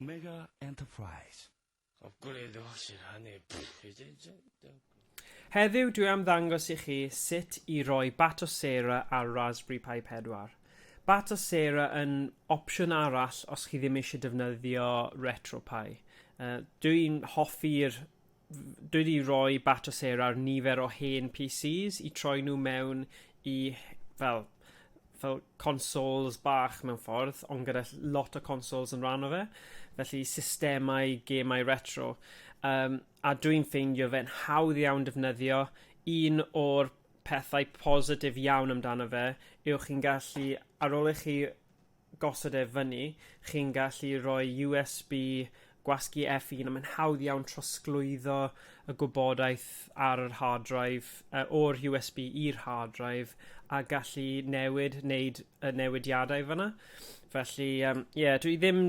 Mega Enterprise. Of gwleidyddion sy'n rhannu pethau. Heddiw dwi am ddangos i chi sut i roi Bat o Sarah ar Raspberry Pi 4. Bat o Sarah yn opsiwn arall os chi ddim eisiau defnyddio RetroPie. Dwi'n hoffi'r dwi wedi rhoi batch o sêr ar nifer o hen PCs i troi nhw mewn i fel fel consoles bach mewn ffordd, ond gyda ll- lot o consoles yn rhan o fe, felly systemau gemau retro. Yym a dwi'n ffeindio fe'n hawdd iawn defnyddio. Un o'r pethau positif iawn amdano fe yw chi'n gallu, ar ôl i chi gosod e fyny, chi'n gallu rhoi USB gwasgu F un a mae'n hawdd iawn trosglwyddo y gwybodaeth ar yr hard drive, yy o'r USB i'r hard drive a gallu newid, wneud y newidiadau fanna. Felly yym ie dwi ddim,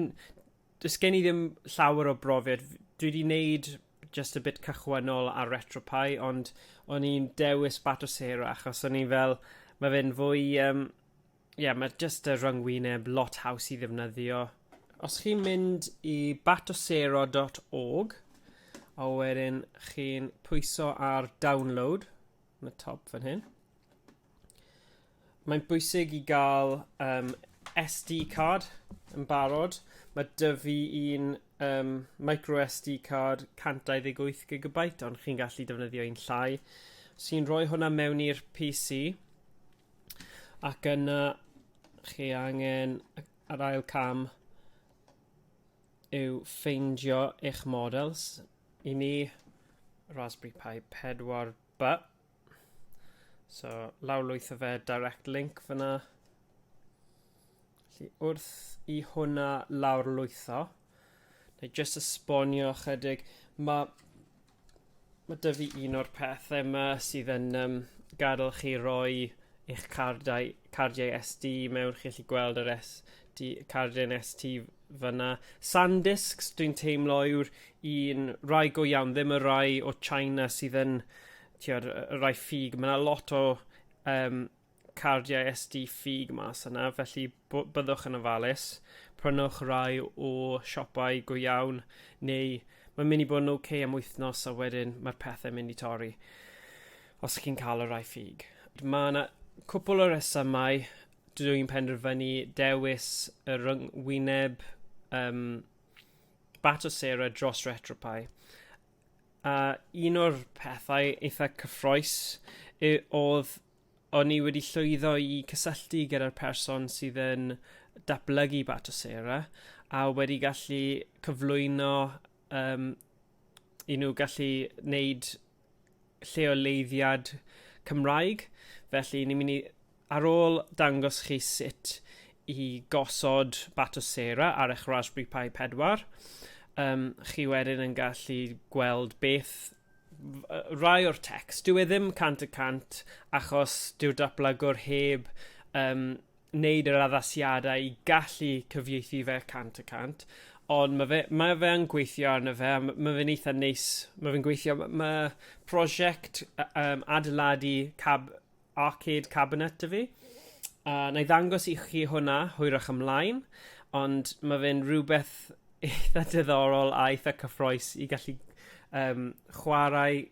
does gen i ddim llawer o brofiad, dwi 'di wneud jyst y bit cychwynnol ar RetroPie ond o'n i'n dewis Batocera achos o'n i fel ma' fe'n fwy yym Ie, yeah, mae jyst y rhyngwyneb lot haws i ddefnyddio. Os chi'n mynd i batosero.org, a wedyn chi'n pwyso ar download, yn y top fan hyn, mae'n bwysig i gael um, SD card yn barod. Mae dyfu un um, micro SD card 128GB, ond chi'n gallu defnyddio un llai. Os chi'n rhoi hwnna mewn i'r PC, ac yna chi angen yr ail cam yw ffeindio eich models i mi Raspberry Pi 4 ba so lawrlwytho fe direct link fyna Felly wrth i hwnna lawr lwytho, neu jyst esbonio ychydig, mae ma dy fi un o'r pethau yma sydd yn um, gadael chi roi eich cardau, cardiau SD mewn, chi'n gallu gweld yr SD, cardiau'n ST fyna. Sandiscs, dwi'n teimlo yw'r un rai go iawn, ddim y rai o China sydd yn, ti'n y rai ffug, mae yna lot o um, cardiau SD ffug mas yna, felly byddwch yn ofalus. Prynwch rai o siopau go iawn, neu mae'n mynd i bod yn oce okay am wythnos a wedyn mae'r pethau mynd i torri os chi'n cael y rai ffug. Mae yna cwpl o resymau dydw i'n penderfynu dewis y rhyngwyneb um, bat o sera dros retropau. A un o'r pethau eitha cyffroes oedd O'n i wedi llwyddo i cysylltu gyda'r person sydd yn datblygu Batocera a wedi gallu cyflwyno um, i nhw gallu wneud lleoleiddiad Cymraeg. Felly, ni'n mynd i, ar ôl dangos chi sut i gosod Batocera ar eich Raspberry Pi 4, um, chi wedyn yn gallu gweld beth rai o'r text. Dyw e ddim cant y cant achos dyw'r datblygwr heb um, wneud yr addasiadau i gallu cyfieithu fe cant y cant, ond mae fe, mae fe yn gweithio arno fe, mae fe'n eitha neis, mae fe'n gweithio, mae prosiect um, adeiladu cab, arcade cabinet 'da fi. Uh, na i ddangos i chi hwnna hwyrach ymlaen, ond mae fe'n rhywbeth eitha diddorol a eitha cyffroes i gallu um, chwarae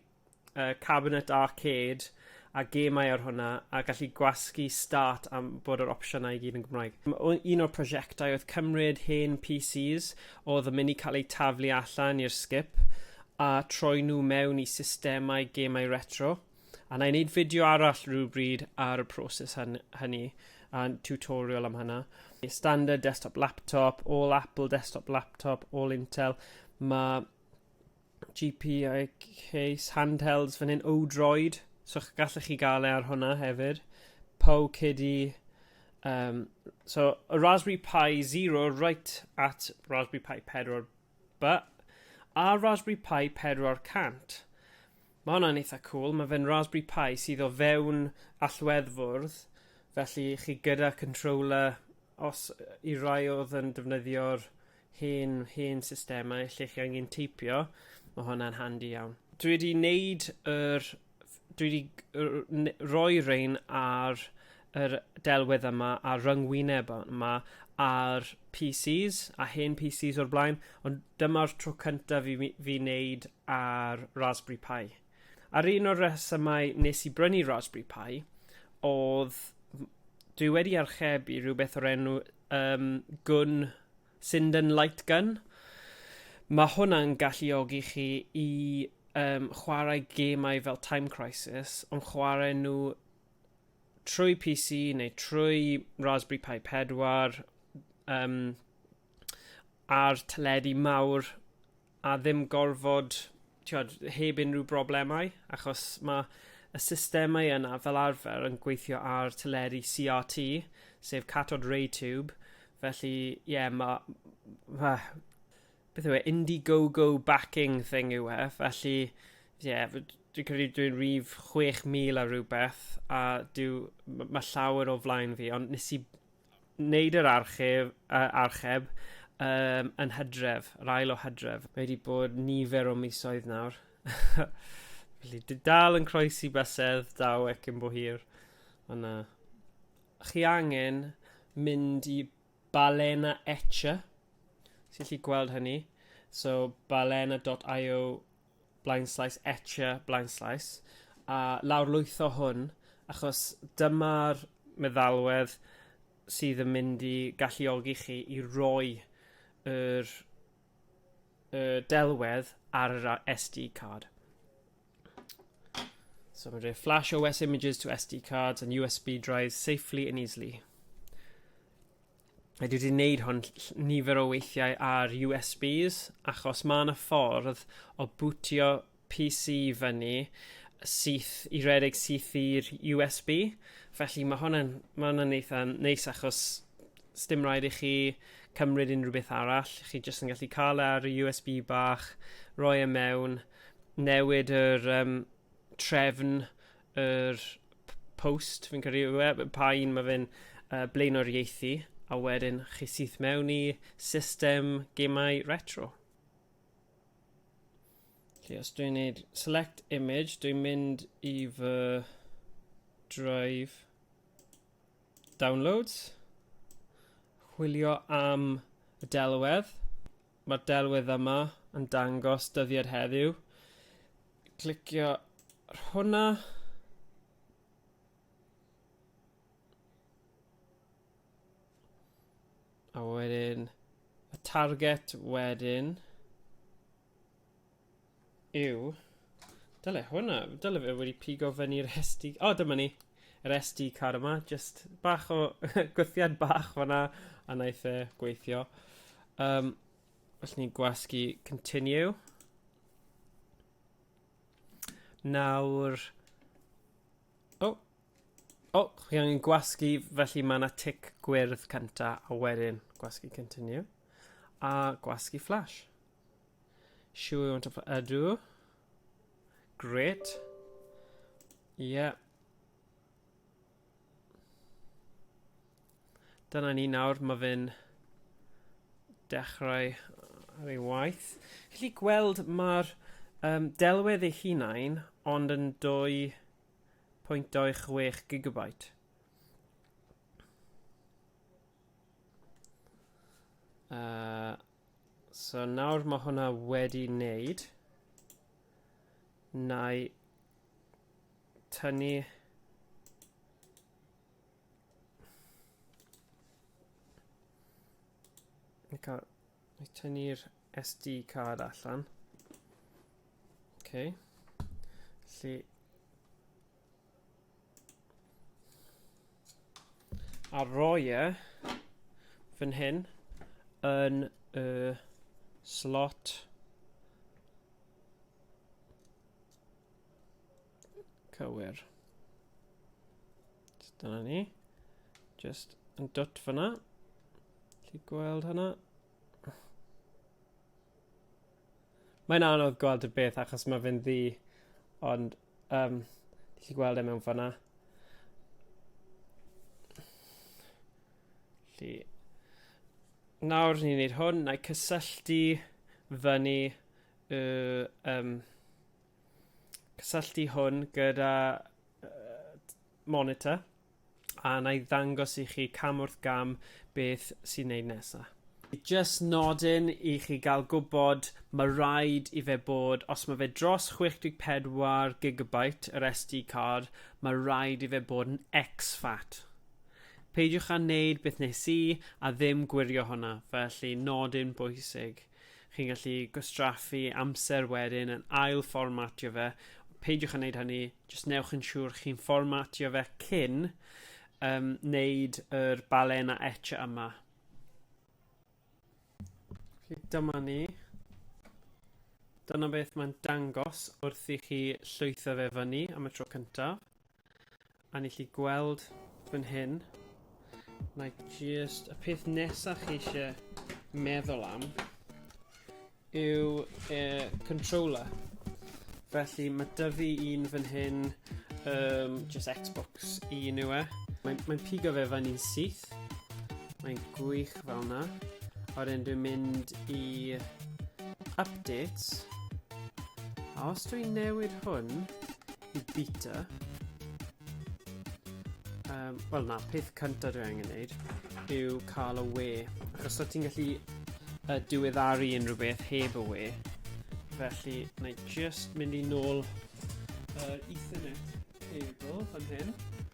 uh, cabinet arcade a gemau ar hwnna a gallu gwasgu start am bod yr opsiynau i gyd yn Gymraeg. Un o'r prosiectau oedd cymryd hen PCs oedd yn mynd i cael eu taflu allan i'r skip a troi nhw mewn i systemau gemau retro. A na i wneud fideo arall rhywbryd ar y proses hynny, a'n tutorial am hynna. Standard desktop laptop, all Apple desktop laptop, all Intel. Mae GPI case handhelds fan hyn, Odroid, so gallech chi gael e ar hwnna hefyd. Po Kiddy, um, so a Raspberry Pi 0 right at Raspberry Pi 4 But, ar Raspberry Pi 400, ma' hwnna'n eitha cŵl, ma' fe'n Raspberry Pi sydd o fewn allweddfwrdd, felly chi gyda controller, os i rai odd yn defnyddio'r hen hen systemau lle chi angen teipio, ma' hwnna'n handi iawn. Dwi wedi neud yr dwi wedi n- rhoi rein ar yr delwedd yma a ryngwyneb yma ar PCs a hen PCs o'r blaen, ond dyma'r tro cyntaf i mi, fi wneud ar Raspberry Pi. A'r un o'r resymau nes i brynu Raspberry Pi oedd dwi wedi archebu rhywbeth o'r enw um, gwn Sinden Light Gun. Mae hwnna'n galluogi chi i um, chwarae gemau fel Time Crisis, ond chwarae nhw trwy PC neu trwy Raspberry Pi 4 um, ar teledu mawr a ddim gorfod, tiod, heb unrhyw broblemau, achos mae y systemau yna fel arfer yn gweithio ar teleri CRT, sef cathod ray tube, felly, ie, yeah, mae... Ma, beth yw e, Indiegogo backing thing yw e, felly, ie, yeah, dwi'n credu dwi'n rhif 6,000 a rhywbeth, a dyw, mae llawer o flaen fi, ond nes i wneud yr archeb, uh, archeb um, yn hydref, yr ail o hydref. Mae wedi bod nifer o misoedd nawr. Felly, dy dal yn croesi bysedd, daw ec yn bo hir. Ond uh, chi angen mynd i Balena Etcher, sy'n lli gweld hynny. So, balena.io blaenslais, etche blaenslais, a lawrlwytho hwn, achos dyma'r meddalwedd sydd yn mynd i galluogi chi i roi yr y delwedd ar yr SD card. So mae'n rhaid flash OS images to SD cards and USB drives safely and easily. a dwi wedi gwneud hwn nifer o weithiau ar USBs achos mae yna ffordd o bwtio PC fyny syth i redeg syth i'r USB felly mae hwn yn mae hwn yn eitha neis achos sdim rhaid i chi cymryd unrhyw beth arall chi jyst yn gallu cael e ar y USB bach roi e mewn newid yr um, trefn yr post, fi'n credu yw e, pa un mae fe'n uh, blaenoriaethu, a wedyn chi syth mewn i system gemau retro. Felly os dwi'n gwneud select image, dwi'n mynd i fy drive downloads, chwilio am y delwedd, mae'r delwedd yma yn dangos dyddiad heddiw. Clicio ar hwnna. A wedyn y target wedyn. Yw. Dyle hwnna, dyle fe wedi pigo fyny'r SD... O, oh, dyma ni! Yr SD card yma, just bach o gwthiad bach fanna, a wnaeth e gweithio. Um, os ni'n gwasgu continue. Nawr... O! Oh. O, oh, chi angen gwasgu, felly mae yna tic gwyrdd cynta, a wedyn gwasgu continue. A gwasgu flash. Show you want to play? Ydw. Great. Yeah. Dyna ni nawr, mae fe'n dechrau ar ei waith. Felly gweld mae'r um, delwedd ei hunain ond yn 2.26 gigabyte. Uh, So nawr mae hwnna wedi wneud. Na i tynnu Ni'n cael... Ni'n tynnu'r SD card allan. OK. Felly... A roi e fan hyn yn y slot cywir. So dyna ni. Just yn dwt fyna. Lli gweld hynna? Mae'n anodd gweld y beth achos mae fe'n ddi, ond Yym, ti gallu gweld e mewn ffor 'na. Felly, nawr ni'n neud hwn, na i cysylltu fyny y um, cysylltu hwn gyda uh, monitor. a na i ddangos i chi cam wrth gam beth sy'n neud nesa. Just nodyn i chi gael gwybod, mae rhaid i fe bod, os mae fe dros 64 gigabyte yr SD card, mae rhaid i fe bod yn exFAT. Peidiwch â wneud beth nes i a ddim gwirio hwnna, felly nodyn bwysig. Chi'n gallu gwastraffu amser wedyn yn ail fformatio fe. Peidiwch â wneud hynny, jyst newch yn siŵr chi'n fformatio fe cyn um, wneud yr balena etch yma. Felly dyma ni. Dyna beth mae'n dangos wrth i chi llwytho fe fyny am y tro cyntaf. A ni chi gweld fan hyn, mae just y peth nesaf chi eisiau meddwl am yw e, controller. Felly mae dyfu un fan hyn, um, just Xbox un yw e. Mae'n mae pigo fe fan i'n syth, mae'n gwych fel yna. A wedyn dwi'n mynd i updates. A os dwi'n newid hwn i bita. Um, Wel na, peth cyntaf dwi angen neud yw cael y we. Achos o ti'n gallu uh, diweddaru unrhyw beth heb y we. Felly, na i just mynd i nôl yr uh, Ethernet cable fan hyn.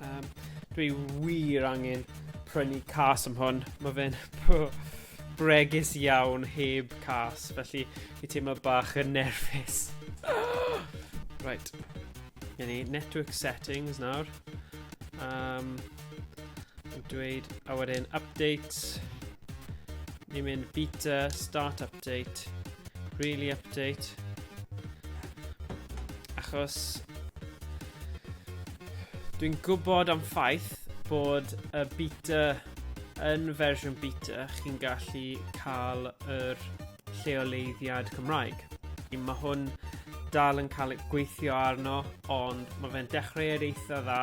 Um, dwi wir angen prynu cas am hwn. Mae fe'n bregus iawn heb cas, felly fi teimlo bach yn nerfus. right. Gen i network settings nawr. Um, dweud, a wedyn update. Ni'n mynd beta, start update, really update. Achos dwi'n gwybod am ffaith bod y beta yn fersiwn beta chi'n gallu cael yr lleoleiddiad Cymraeg. Mae hwn dal yn cael gweithio arno, ond mae fe'n dechreuad eitha dda,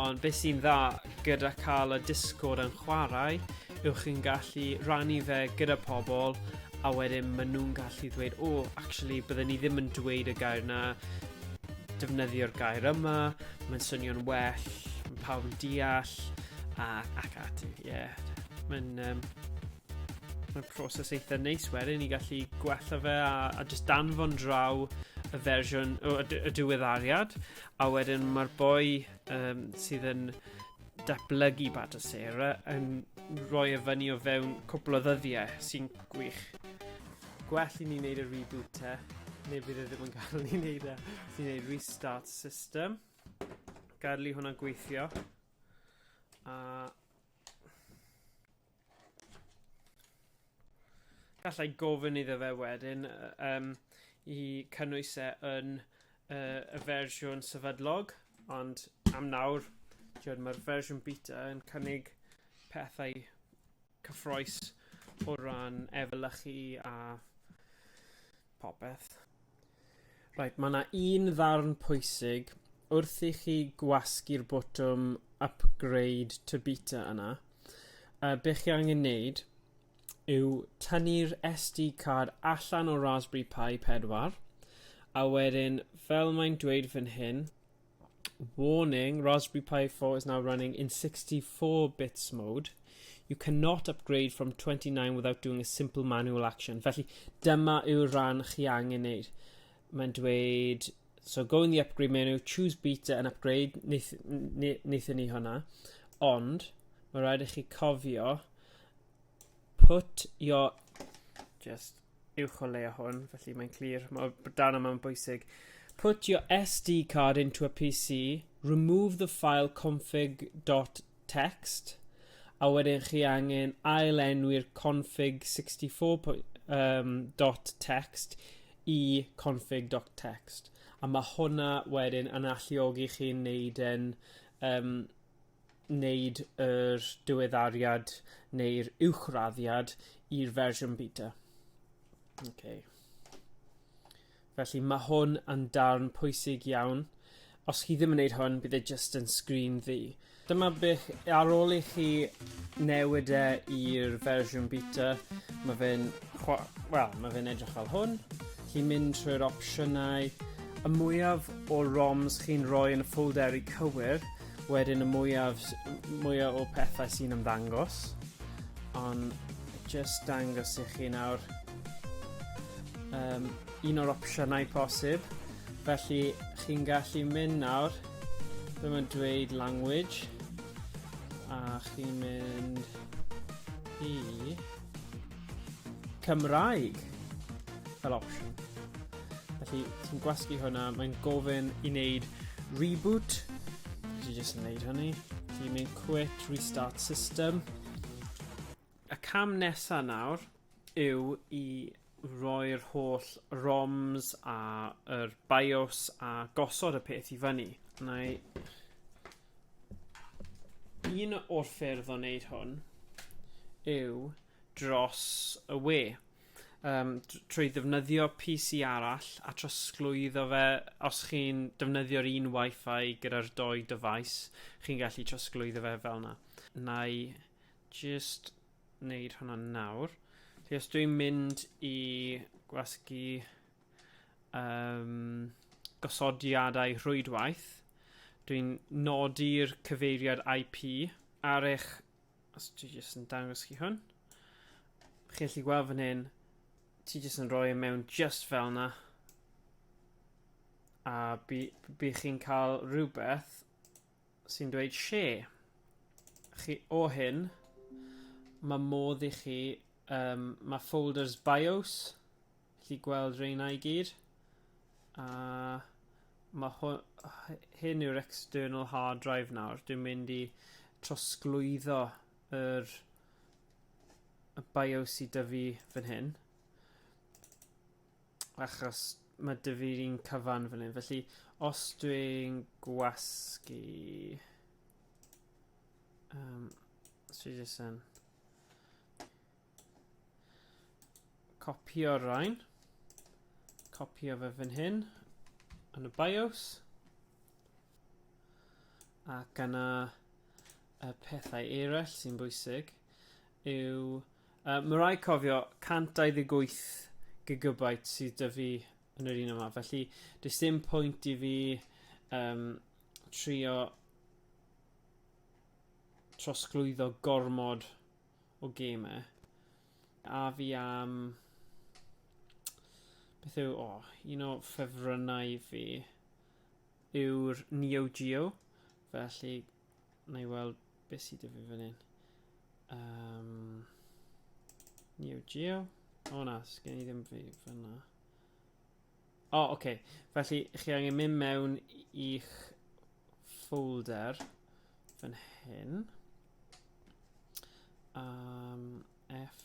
ond beth sy'n dda gyda cael y Discord yn chwarae yw chi'n gallu rannu fe gyda pobl a wedyn maen nhw'n gallu dweud, o, oh, actually, byddwn ni ddim yn dweud y gair na, defnyddio'r gair yma, mae'n swnio'n well, mae pawb yn deall, a, ac ati, ie. Yeah. Mae'n um, Mae'n proses eitha neis wedyn i gallu gwella fe a, a just danfon draw y fersiwn, o, y, y diweddariad, a wedyn mae'r boi um, sydd yn datblygu Bad o Sarah yn rhoi e fyny o fewn cwpl o ddyddiau sy'n gwych. Gwell i ni wneud y reboot te, neu bydd e ddim yn cael ni wneud e. Ti'n wneud restart system, gadlu hwnna gweithio, a Gallai gofyn iddo fe wedyn um, i cynnwys e yn uh, y fersiwn sefydlog, ond am nawr, mae'r fersiwn beta yn cynnig pethau cyffroes o ran efelychu a popeth. Right, mae yna un ddarn pwysig wrth i chi gwasgu'r botwm upgrade to beta yna. Uh, be chi angen wneud yw tynnu'r SD card allan o Raspberry Pi 4 a wedyn fel mae'n dweud fan hyn Warning, Raspberry Pi 4 is now running in 64 bits mode. You cannot upgrade from 29 without doing a simple manual action. Felly, dyma yw'r rhan chi angen neud. Mae'n dweud, so go in the upgrade menu, choose beta and upgrade, wnaethon ni hwnna. Ond, mae rhaid i chi cofio, put your, just uwch o leia hwn, felly mae'n clir. Mae dan yma'n bwysig. Put your SD card into a PC, remove the file config.txt, a wedyn chi angen ail enwi'r config64.txt um, i config.txt. A mae hwnna wedyn yn alluogi chi'n neud yn um, wneud yr diweddariad neu'r uwchraddiad i'r fersiwn beta. Okay. Felly mae hwn yn darn pwysig iawn. Os chi ddim yn gwneud hwn, bydd e jyst yn sgrin ddi. Dyma beth ar ôl i chi newid e i'r fersiwn beta, mae fe'n well, mae fe'n edrych fel hwn. Chi'n mynd trwy'r opsiynau, y mwyaf o ROMs chi'n rhoi yn y ffolderi cywir, Wedyn y mwyaf, mwyaf o pethau sy'n ymddangos. Ond just dangos i chi nawr um, un o'r opsiynau posib. Felly chi'n gallu mynd nawr, ddim yn dweud language, a chi'n mynd i Cymraeg fel opsiwn. Felly, ti'n gwasgu hwnna, mae'n gofyn i wneud reboot. Felly, jyst yn wneud hynny. Felly, mae'n quit, restart system. Y cam nesa nawr yw i roi'r holl ROMs a yr BIOS a gosod y peth i fyny. Na i... Un o'r ffyrdd o wneud hwn yw dros y we yym trwy ddefnyddio PC arall a trosglwyddo fe os chi'n defnyddio'r un Wi-Fi gyda'r dou dyfais chi'n gallu trosglwyddo fe fel yna. Nai jyst wneud hwnna nawr. Felly os dwi'n mynd i gwasgu um, gosodiadau rhwydwaith, dwi'n nodi'r cyfeiriad IP ar eich Os ti jyst yn dangos chi hwn. Chi'n gallu gweld fan hyn, ti jyst yn rhoi e mewn just fel yna. A by, by chi'n cael rhywbeth sy'n dweud share. Chi o hyn, mae modd i chi, um, mae folders bios, Chi gweld reina i gyd. A mae hwn, hyn yw'r external hard drive nawr. Dwi'n mynd i trosglwyddo yr y BIOS i dyfu fan hyn. Achos mae dyfu'r un cyfan fan hyn. Felly, os dwi'n gwasgu... Um, os dwi'n jyst yn... Copio'r rhain. Copio fe fan hyn yn y bios. Ac yna y pethau eraill sy'n bwysig yw... Uh, mae rai cofio 128 gigabyte sydd dy fi yn yr un yma. Felly, does dim pwynt i fi um, trio trosglwyddo gormod o gemau. A fi am... Beth yw... O, oh, un o ffefrynnau fi yw'r Neo Geo. Felly, na i weld beth sydd â fi fan hyn. Um, Neo Geo. O na, sgen i ddim fi fyna. O, oh, oce. Okay. Felly, chi angen mynd mewn i'ch folder fan hyn. Um, F.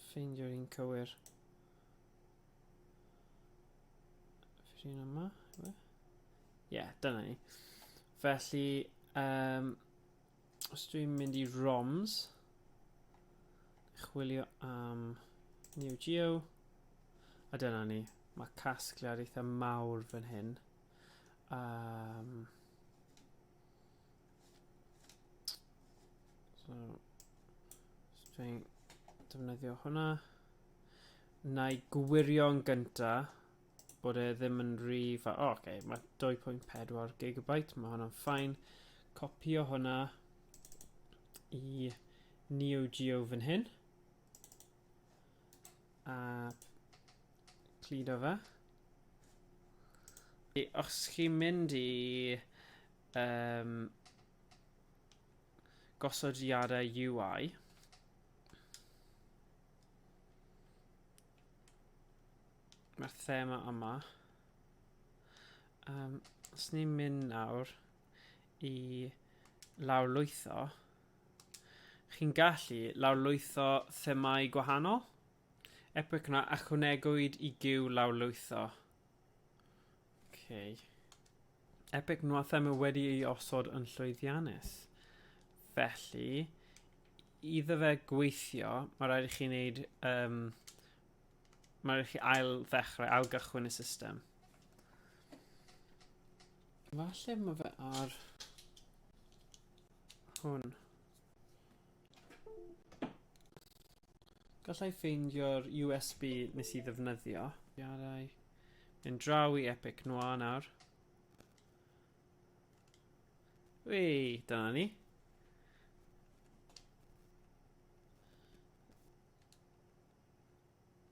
Ffeindio'r un cywir. Ffeindio'r un yma, Ie, yeah, dyna ni. Felly, um, Os dwi'n mynd i ROMs, chwilio am Neo Geo, a dyna ni, mae casgliad eitha mawr fan hyn. Um, so, os dwi'n defnyddio hwnna, na i gwirio'n gyntaf, bod e ddim yn rhy fa... O, oce, okay, mae 2.4 gigabyte, mae hwnna'n ffain. Copio hwnna i Neo Geo fan hyn. A clido fe. Os chi'n mynd i um, gosodiadau UI, Mae'r thema yma. Um, os ni'n mynd nawr i lawrlwytho, chi'n gallu lawrlwytho themau gwahanol. Epic yna achwnegwyd i gyw lawrlwytho. Okay. Epic nhw a thema wedi ei osod yn llwyddiannus. Felly, iddo fe gweithio, mae rhaid i chi wneud um, Mae rhaid chi ail ddechrau, ail gychwyn y system. Falle mae fe ar hwn. Gallai ffeindio'r USB nes i ddefnyddio. Iadau. Yn draw i Epic Noir nawr. Wei, dyna ni.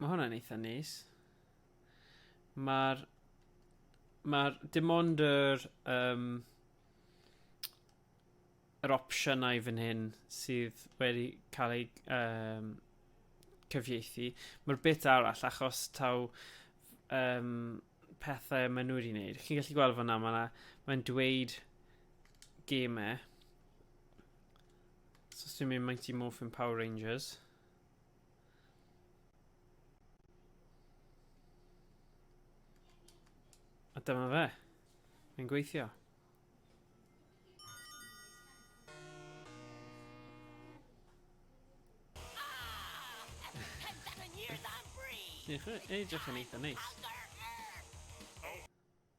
Mae hwnna'n eitha neis. Mae'r... Mae'r... Dim ond yr... Um, yr opsiynau fan hyn sydd wedi cael ei um, cyfieithu. Mae'r bit arall, achos taw um, pethau maen nhw wedi gwneud. Chi'n gallu gweld fanna, mae'n ma dweud gemau. So, os dwi'n mynd Mighty Morphin Power Rangers. A dyma fe. Mae'n gweithio. Diolch yn edrych yn eitha neis.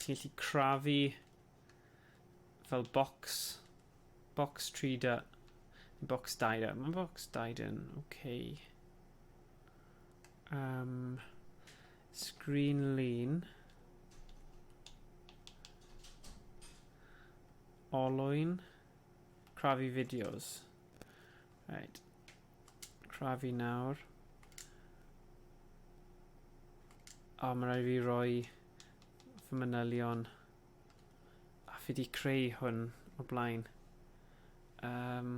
Ti'n gallu crafu fel box, box trader, box dider. Mae box dider yn okay. Um, screen lean. Olwyn. Crafu videos. Right. crafu nawr. O, mae rhaid fi roi fy manylion. A fi di creu hwn o blaen. Um,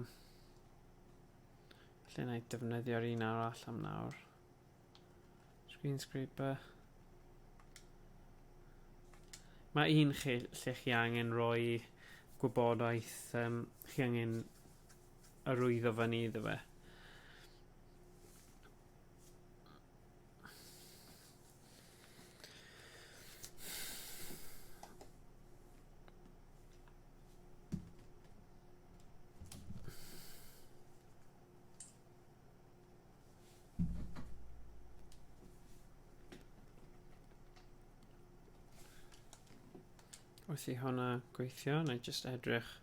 lle na i defnyddio'r un arall am nawr. Screen scraper. Mae un lle, lle chi angen roi gwybodaeth, um, chi angen arwyddo fyny iddo fe. Os i hwnna gweithio, na i jyst edrych.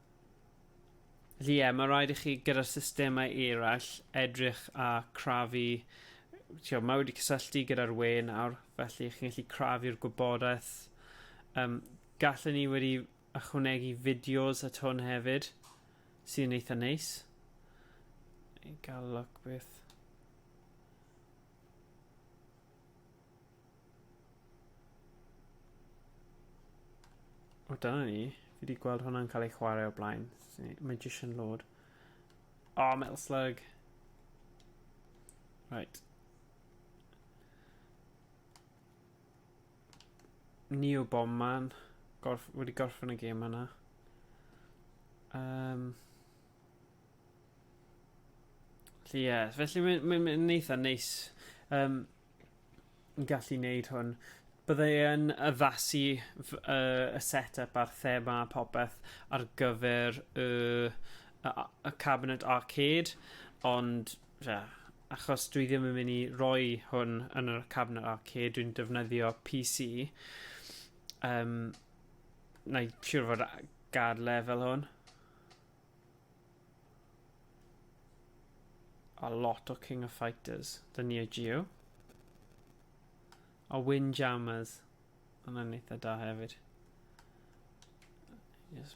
Felly ie, mae rhaid i chi gyda'r systemau eraill edrych a crafu ti'o, mae wedi cysylltu gyda'r we nawr, felly chi'n gallu crafu'r gwybodaeth. Um, gallwn ni wedi ychwanegu fideos at hwn hefyd, sy'n eitha neis. I gael look beth. O, dyna ni. Fi wedi gweld hwnna'n cael ei chwarae o blaen. Magician Lord. O, oh, Metal Slug. Right. Neo Bomb Man. Gorf wedi gorffen y gêm yna. Um, felly, ie. Yeah. Felly, mae'n ma, ma, ma eitha neis. Um, gallu wneud hwn. Bydde yn addasu y, y set-up a'r thema a popeth ar gyfer y, y, y Cabinet Arcade, ond ie, achos dwi ddim yn mynd i roi hwn yn y Cabinet Arcade, dwi'n defnyddio PC. Um, na i siŵr fod gad lefel hwn. A lot o King of Fighters, the Neo Geo. A Windjammers. Hwna'n eitha da hefyd. Yes.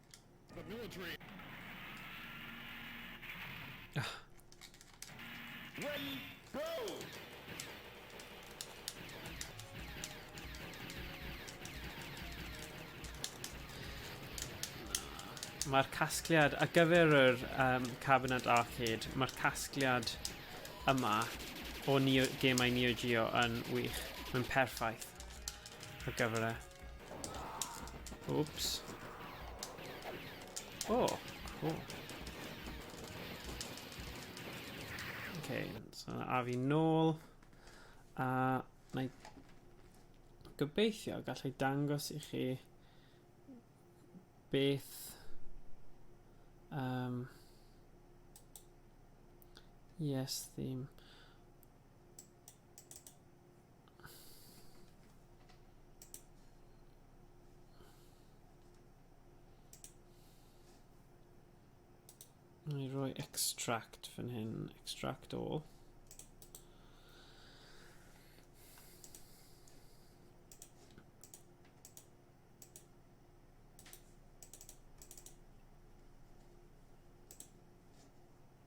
The military. Ah. Ready, go! Mae'r casgliad, a gyfer yr um, Cabinet Arcade, mae'r casgliad yma o Neo, gemau Neo Geo yn wych. Mae'n perffaith ar gyfer e. Oops. Oh, cool. Okay, so yna a fi nôl. A na i gobeithio gallai dangos i chi beth um, yes theme I roi extract fan hyn, extract all.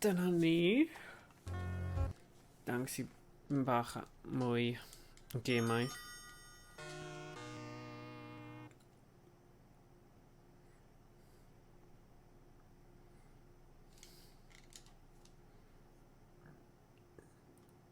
Dyna ni. Dangos i bach mwy o gemau.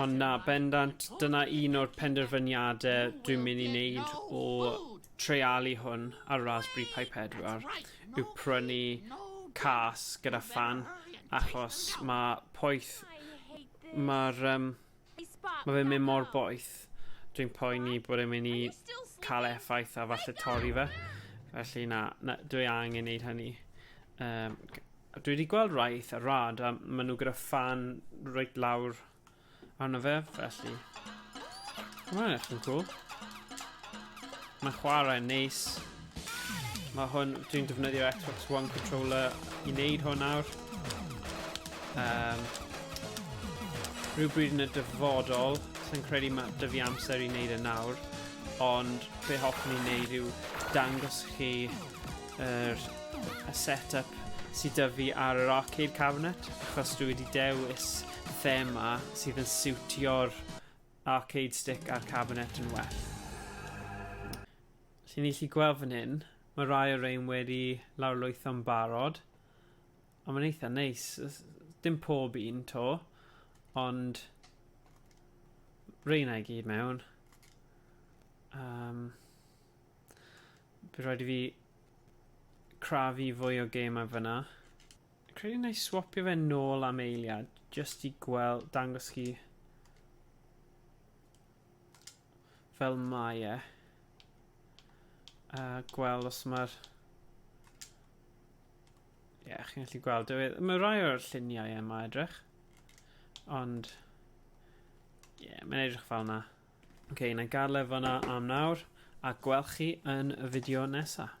Ond na, bendant, dyna un o'r penderfyniadau dwi'n mynd i wneud o treialu hwn ar Raspberry Pi 4 yw prynu cas gyda fan achos mae poeth mae'r um, mae fe'n mynd mor boeth dwi'n poeni bod e'n mynd i cael effaith a falle torri fe felly na, na dwi angen wneud hynny um, Dwi wedi gweld rai eitha rad a maen nhw gyda fan reit lawr arno fe, felly... Mae'n eich yn cool. Mae'n chwarae yn neis. Mae hwn, dwi'n defnyddio Xbox One controller i wneud hwn nawr. Um, rhywbryd yn y dyfodol, sy'n credu mae dyfu amser i wneud e nawr, ond be hoffwn i'n wneud yw dangos chi Yr y set-up sydd dy fi ar yr arcade cabinet, achos dwi wedi dewis thema sydd yn siwtio'r arcade stick a'r cabinet yn well. Felly ni chi gweld fan hyn, mae rai o rein wedi lawrlwytho'n barod, ond mae'n eitha neis, dim pob un to, ond reina i gyd mewn. Um, Bydd rhaid i fi crafu fwy o gemau fyna. Credu na i swapio fe nôl am eiliad, jyst i gweld, dangos chi fel mae e. A gweld os mae'r... Ie, yeah, chi'n gallu gweld. E. Mae rai o'r lluniau yma edrych. Ond... Ie, yeah, mae'n edrych fel yna. Ok, na gael e fyna am nawr, a gwelch chi yn y fideo nesaf.